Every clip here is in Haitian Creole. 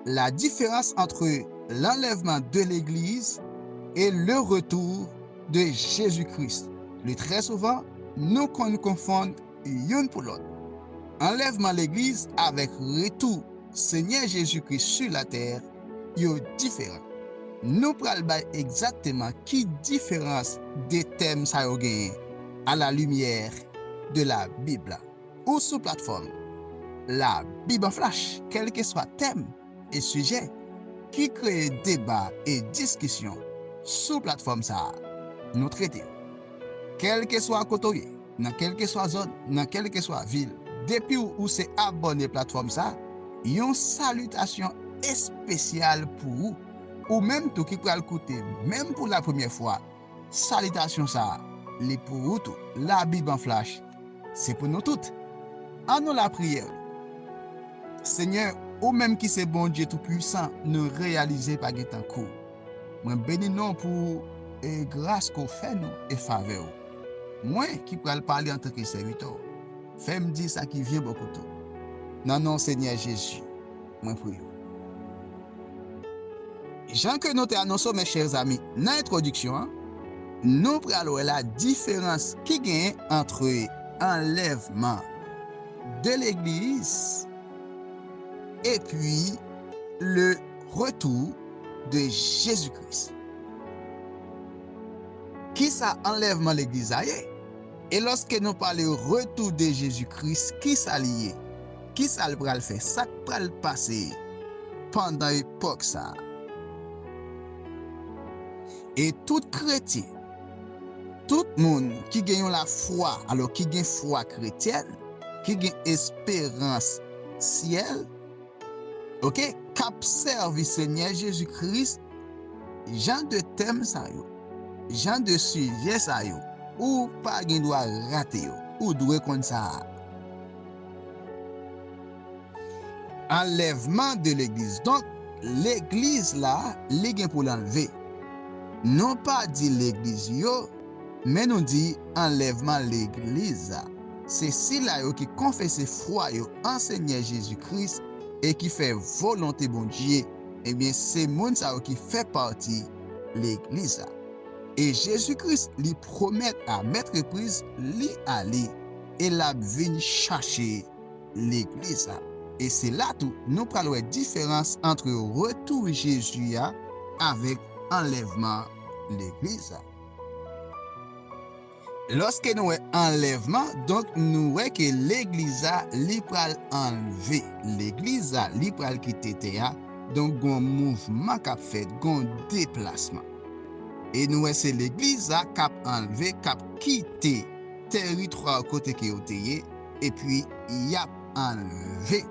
La diferans antre lanlèvman de legliz e le retou de Jezi Kris le trè souvan nou konn konfonn youn pou lòt anlèvman legliz avèk retou Senyè Jezi Kris su latè yo diferan nou pral bay egzakteman ki diferans de tèm sa yo genyen a la limyè de la Bib la. Ou sou platfòm La Bib an Flash! Kèlkeswa tèm e sijè ki kreye deba e diskisyon sou platfòm sa a, nou trete yo. Kèlkeswa kote w ye, nan kèlkeswa zòn, nan kèlkeswa vil, depi w ou se abòne platfòm sa, yon salitasyon espesyal pou ou! Ou menm tou ki pral koute menm pou lapremyè fwa, Salitasyon sa a li pou ou tou. Labib an flach se pou nou tout. An nou lapriyè ou. Senyè, ou menm ki se Bondye Toupuisan, nou reyalize pa gen tankou ou. Mwen beni non ou pou e gras ke w fè nou e favè ou. Mwen ki pral pale antanke sèvitè ou, fè m di sa ki vyen bò kote ou. Nan non Senyè Jezi. mwen pou yo. Jan ke nou te anonso mes chers amis nan entwodiksyon an, nou pral wè la diferans ki genyen antre anlèvman de legliz epi le retou de Jezi Kris. Kisa anlèvman legliz la ye? E lòske nou pale retou de Jezi Kris, kisa li ye? Ki sa l pral fè? Sa k pral pase pandan epòk sa a? E tout kretyen, tout moun ki gen yon lafwa, alò ki gen fwa kretyèn, ki gen esperans syèl, oke, k ap sèvi Senyè Jezi Kris, jan de tèm sa yo, jan de sijè sa yo, ou pa gen dwa rate yo. Ou dwe konn sa a. Anlèvman de legliz donk legliz la li gen pou l anlve nou pa di legliz yo men nou di anlèvman legliz a se sila yo ki konfese fwa yo an senyè jezi kris e ki fè volonte bondye ebyen se moun sa yo ki fè pati legliz a e jezi kris li pwomèt a mèt repriz li ale. e l ap vin chache Legliz la. E se la tou nou pral wè diferans antre retou Jezi a avèk anlèvman Legliz la. Lòske nou wè anlèvman, donk nou wè ke Legliz la li pral anlve. Legliz la li pral kite tè a, donk gon mouvman k ap fèt, gon deplasman. E nou wè se Legliz la k ap anlve, k ap kite. Teritwa kote ke yo te ye, epi y ap anleve.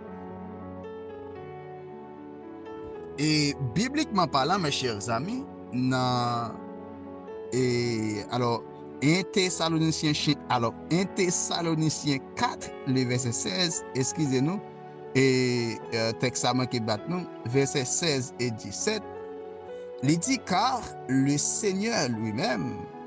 E biblikman palan, mes chers amis, nan e alò 1 Tesalonisyen chen alò 1 Tesalonisyen 4 le vèsè 16, eskize nou, e tèks sa manke bat nou, vèsè 16 et 17, li di, Car le Seigneur lui-même,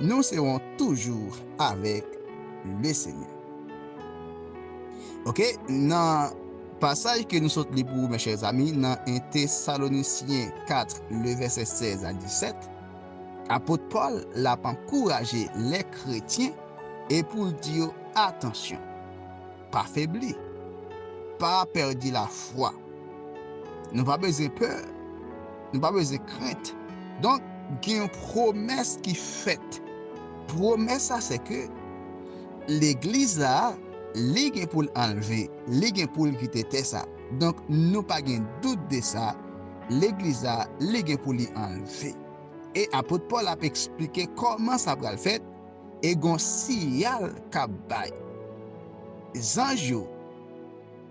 Nous serons toujours avec le Seigneur. Ok, nan pasaj ke nou sot li pou ou mes chers amis nan 1 Thessaloniciens 4 le verset 16 a 17, Apot Paul lap ankouraje les kretyen e poul di yo atansyon. Pa febli. Pa pèdi lafwa. Nou pa bezwen pè. Nou pa bezwen krent. Donk, gen yon pwomès ki fèt. Pwomès la se ke legliz la, li gen pou l anlve, li gen pou l kite tè sa. Donk, nou pa gen dout de sa, legliz la, li gen pou li anlve. E apot Pòl ap esplike kòman sa pral fèt. e gon siyal kap bay zanj yo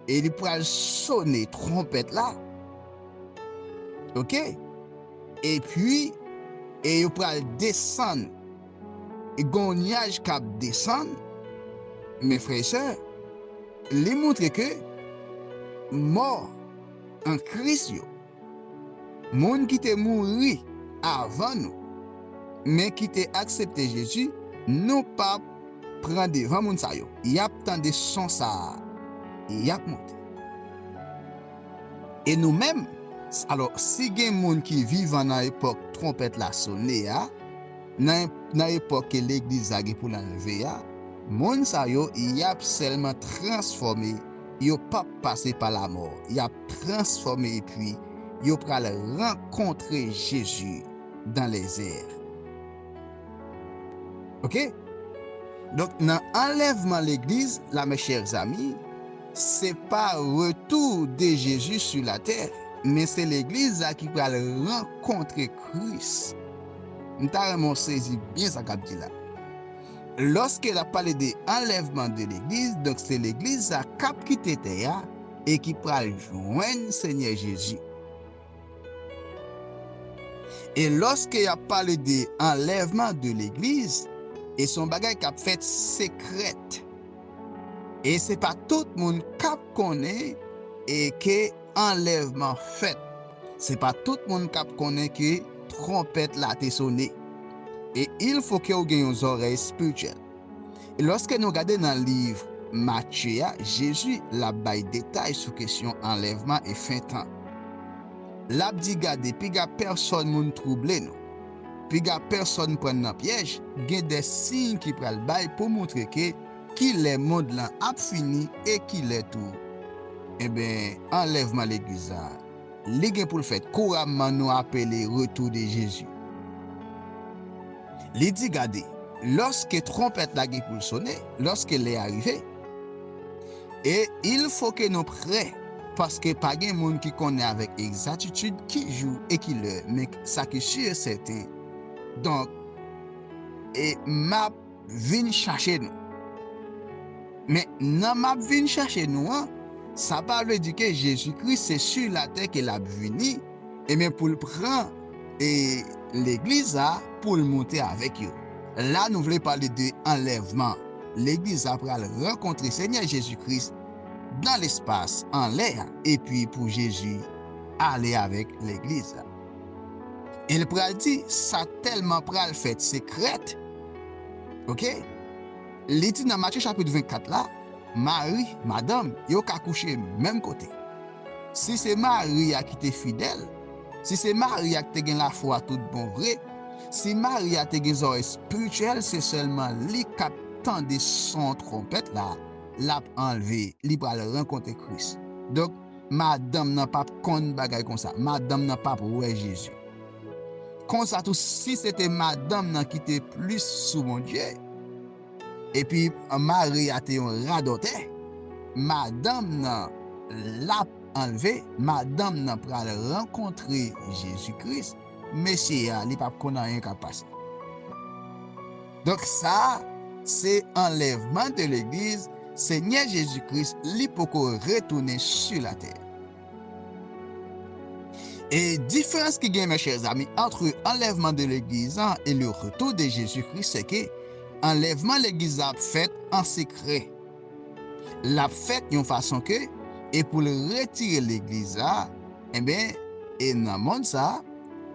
e li pral sone tronpèt la ok epi e yo pral desann e gon nyaj kap desann men frè e sè li moutre ke mò an kris yo. Moun ki te mouri avan nou, men ki te aksepte Jezi, nou pap pran devan moun sa yo. Yap tande son sa a, e yap monte. E nou menm, alò, si gen moun ki vivan nan epòk twonpèt la sone a, nan epòk ke Legliz la gen pou l al leve a, moun sa yo, yap sèlman transfòme. Yo pap pase pa lamò, yap transfòme epi yo pral rankontre Jezi dan lèzè. Ok. Donk nan anlèvman legliz la mes chers amis, se pa retou de Jezi su latè, men se legliz la ki pral rankontre Kris. M ta renmen w sezi byen sa kap di la. Loske lap pale de anlèvman de legliz donk se legliz sa kap kite tè a e ki pral jwenn senyè jezi. E loske yap pale de anlèvman de legliz e son bagay kap fèt sekrèt e se pa tout moun kap konnen e ke anlèvman fèt. Se pa tout moun k ap konnen ke twonpèt la te sone. E il fo ke ou gen yon zòrèy espirityèl. E lòske nou gade nan liv Matye a, Jezi l ap bay detay sou kesyon anlèvman e fen tan. L ap di, Gade, piga pèsòn moun twouble nou. Piga pèsòn pran n nan pyèj. Gen de siy ki pral bay pou montre ke. Kilè mond lan ap fini e kilè tou enben anlèvman legliz la li gen poul fèt kouramman nou apele retou de Jezi. Li di gade lòske twonpèt la gen poul sone, lòske lè a rive e il fo ke nou prè paske pa gen moun ki konnen avèk egzatitid ki jou e ki lè men sa ki si e sèten donk e map vin chache nou. Men, nan m ap vin chache nou an, sa pa vle di ke Jezi Kris se su latè ke l ap vini, enben pou l pran e Legliz a pou l moute avèk yo. La nou vle pale de anlèvman. Legliz a pral rankontre Senyè Jezi Kris nan lespas, anlè a, epi pou Jezi ale avèk Legliz la. El pral di sa telman pral fèt sekrèt ok li di nan Matye chapit 24 la mari madanm yo ka kouche menm kote si se mari a ki te fidèl si se mari a ki te gen lafwa tout bon vre si mari a te gen zòrèy spirityèl se sèlman li kap tande son twonpèt la lap anlve li pral rankontre Kris donk Madanm nan pap konn bagay konsa. Madanm nan pap wè Jezi. Konsa tou si se te madanm nan ki te plis sou Bondye, epi mari a te yon radòtè, madanm nan lap anlve, madanm nan pral rankontre Jezi Kris, mesye a li pap konn anyen kap pase. Donk sa se anlèvman de legliz senyè jezi kris li poko retounen su latè. E diferans ki gen mes chers amis antre anlèvman de legliz an e le retou de jezi kris sèke anlèvman legliz la ap fèt an sekrè. l ap fèt yon fason ke e pou l retire legliz la enben e nan mond sa a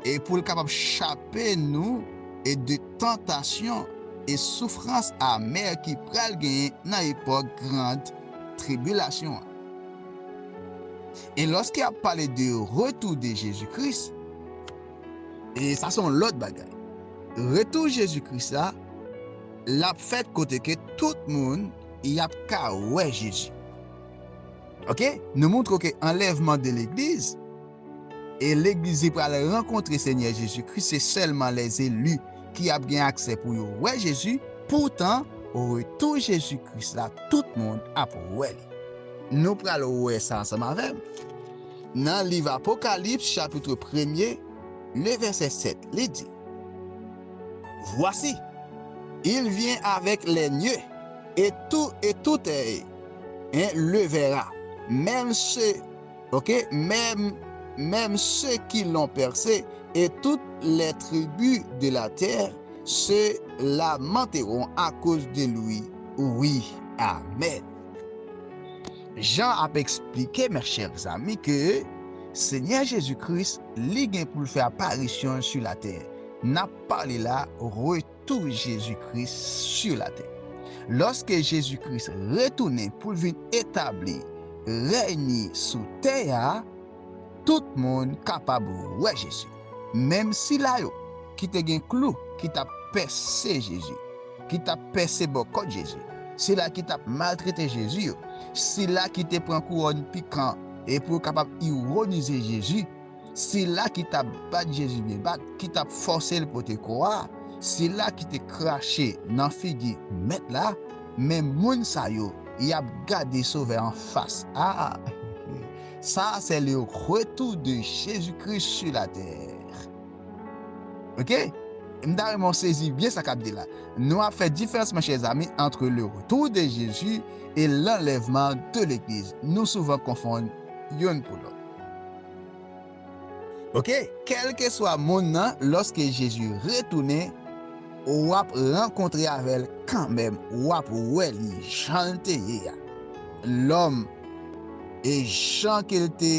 e pou l kapab chape nou e de tantasyon e soufrans amè ki pral genyen nan epòk gran tribilasyon an. E lòske ap pale de retou de Jezi Kris e sa se yon lòt bagay. Retou Jezi Kris la. Lap fèt kote ke tout moun yap ka wè Jezi. Ok nou moutre w ke anlèvman de legliz e legliz li pral rankontre Senyè Jezi Kris se sèlman lèzeli ki ap gen aksè pou yo wè Jezi, poutan retou Jezi Kris la tout moun ap wè li. Nou pral wè sa ansanm avè m nan liv Apokalips chapitre premye le vèsè 7 li di. Voici! Il vient avec les nieux, et tout et toute est hein le verra, même ceux ok même même ceux qui l'ont percé, et toutes les tribus de la terre se lamenteront à cause de lui oui amen. Jan ap esplike mes chers amis ke Senyè Jezi Kris li gen pou l fè aparisyon l su la tè. Nap pale la retou Jezi Kris su latè. Loske Jezi Kris retounen poul vin etabli rèy ni sou tè a, tout moun kapab wè Jezi. Menm sila yo ki te gen klou ki tap pèse Jezi, ki tap pèse bò kòt Jezi, sila ki tap maltrete Jezi yo, sila ki te pran kouwòn pikan e pou yo kapab ironize Jezi, Sila ki t ap bat Jezi byen bat, ki t ap fòse l pote kò a, sila ki te krache nan figi Mèt la, men moun sa yo, y ap gade Sovè an fas. A! Sa a se le retou de Jezi Kris su latè. Oke? M ta renmen w sezi byen sa k ap di la. Nou ap fè diferans, monchè zanmi, antre le retou de Jezi e lanlèvman de legliz. Nou souvan konfonn youn pou lòt. Ok, kèlkeswa moun nan, lòske Jezi retounen, w ap rankontre avè l kanmenm, w ap wè li jan l te ye a, lòm, e jan ke l te,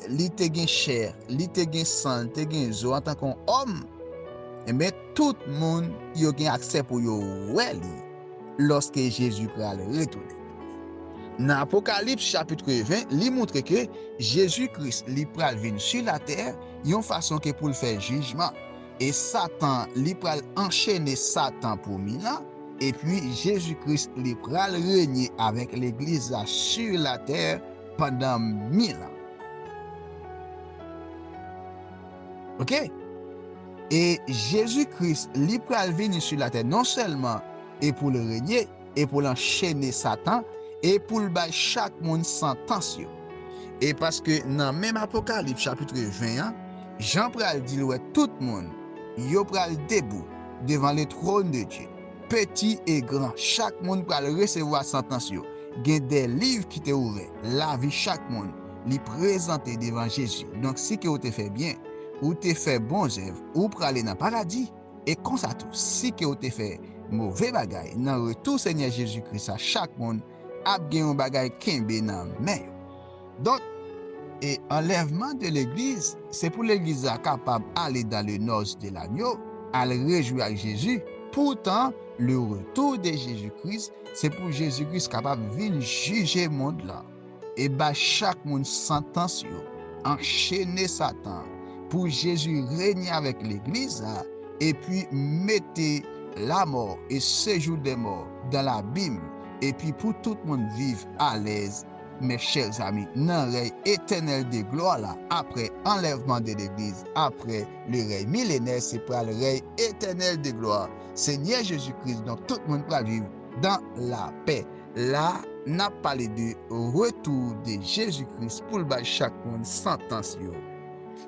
li te gen chè, li te gen san, li te gen zo antanke yon òm, enben, tout moun yo gen aksè pou yo wè li. lòske Jezi pral retounen. Nan Apokalips chapitre 20, li montre ke Jezi Kris li pral vin su latè yon fason ke pou l fè jijman, e Satan li pral anchene Satan pou mil an, epi Jezi Kris li pral renye avèk Legliz la su latè pandan mil an. Ok e Jezi Kris li pral vini su latè non sèlman e poul renye e poul anchene satan e poul bay chak moun santans yo e paske nan menm Apokalip chapitre 20 an Jan pral dil wè tout moun yo pral debou devan le trône de Dieu. Peti e gran, chak moun pral resevwa santans yo. Gen de liv ki te ouvè, lavi chak moun, li prezante devan Jezi. Donk si ke ou te fè byen, ou te fè bon zèv, ou prale nan paradi. E konsa tou, si ke ou te fè move bagay, nan retou Senyè Jezi Kris la chak moun ap gen yon bagay kenbe nan men yo. Donk, e anlèvman de legliz, se pou legliz la kapab ale dan le nòs de lagno, al rejwi ak Jezi, poutan le retou de Jezi Kris, se pou Jezi Kris kapab vin jije mond lan, e bay chak moun santans yo, anchene Satan, pou Jezi renye avèk legliz la, epi mete lamò e sejou dè mò dan labim, epi pou tout moun viv alèz Mes chers amis, nan rèy etènèl de glwa la, aprè anlèvman de legliz, aprè le rèy milenè, se pral rèy etènèl de glwa Senyè Jezi Kris, donk tout moun pral viv dan lapè. La, n ap pale de retou de Jezi Kris pou l bay chak moun santans yo,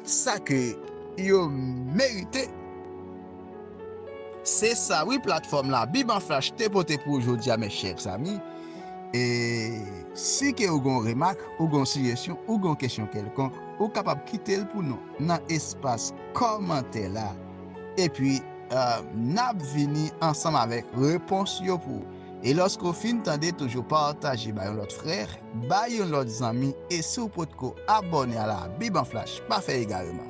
sa ke yo merite. Se sa wi platfòm labib an flash te pote pou ou jodi a mes chers amis e si ke ou gen yon remak ou gen yon sijesyon ou gen yon kesyon kelkonk ou kapab kite l pou nou nan espas kòmantè la epi nap vini ansanm avèk repons yo pou ou e lòske ou fin tande toujou pataje bay yon lòt frè bay yon lòt zanmi e si ou potko abòne a labib an flash pa fè egareman.